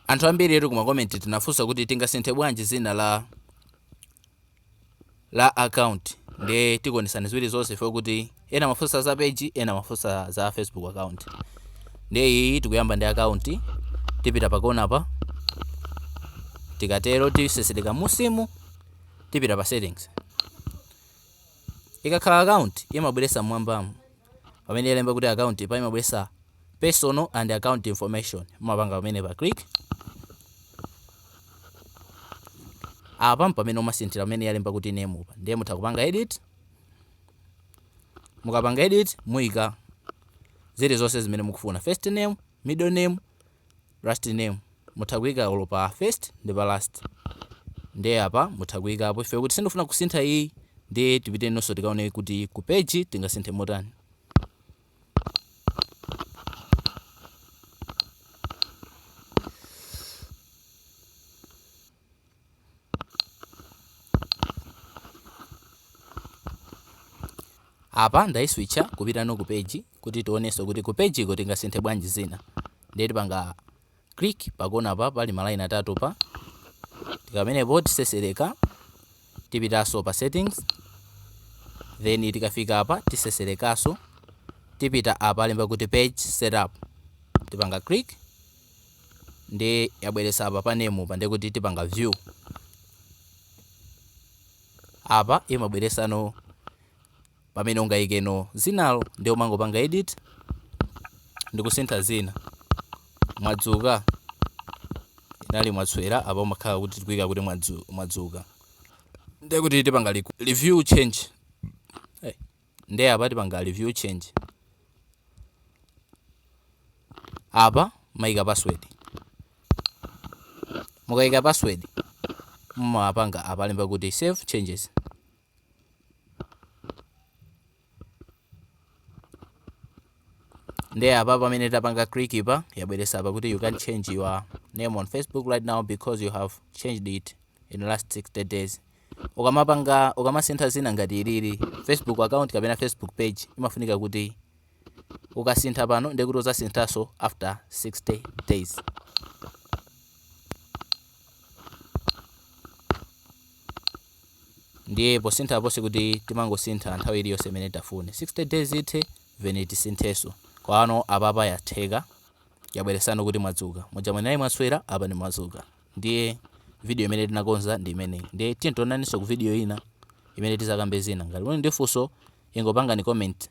Anthu ambiritu ku makomenti tinafunsa kuti tingasinthe bwanji zina la la account ndiye tikuonesani ziwiri zonse chifo kuti ena mafunsa za page ena mafunsa za facebook account ndiye iyi tikuyamba ndi account tipita pakona pa tikatero tisesereka munsimu tipita pa settings Ikakhala account imabweresa mmwambamu pamene yalemba kuti account pa imabweresa personal and account information mumapanga pamenepa click apa ndi pamene umasinthira pamene yalemba kuti name pa ndiye mutha kupanga edit mukapanga edit muika zilizonse zimene mukufuna first name middle name last name mutha kuika olo pa first ndi pa last nde apa mutha kuikapo chifo kuti sindifuna kusintha iyi ndiye tipitenonso tikaone kuti ku page tingasinthe motani Apa ndaiswitcha kupitano ku page kuti tionenso kuti ku page iko tingasinthe bwanji zina. Ndiye tipanga click pakona pa pali malayini atatu pa tikatero tisesereka tipitaso pa settings then tikafika apa tiseserekaso tipita apa palemba kuti page setup tipanga click ndiye yabweresa apa pa name pa ndiye kuti tipanga view apa imabweresano pamene ungayikeno zinalo ndiye umangopanga edit ndikusintha zina mwadzuka inali mwatswera apa umakhala kuti tikuika kuti mwadzuka ndiye kuti tipanga review change nde apa tipanga review change apa maika password mukaika password mumapanga apa lemba kuti save changes nde apa pamene tapanga click pa yabweresa apa kuti you can change your name on facebook right now because you have changed it in last 60 days ukamapanga ukamasintha zina ngati ilili facebook account kapena facebook page imafunika kuti ukasintha pano ndekuti uzasinthaso after 60 days ndiye posintha pose sikuti timangosintha nthawi iliyonse imene tafune 60 days ithe then tisintheso koma no apapa yatheka yabweresano kuti mwadzuka muja munali mwatswera apa ndi mwadzuka ndiye video imene tinakonza ndi imeneyi ndiye tiyeni tionanenso ku video ina imene tizakambe zina ngati muli ndi funso ingopangani comment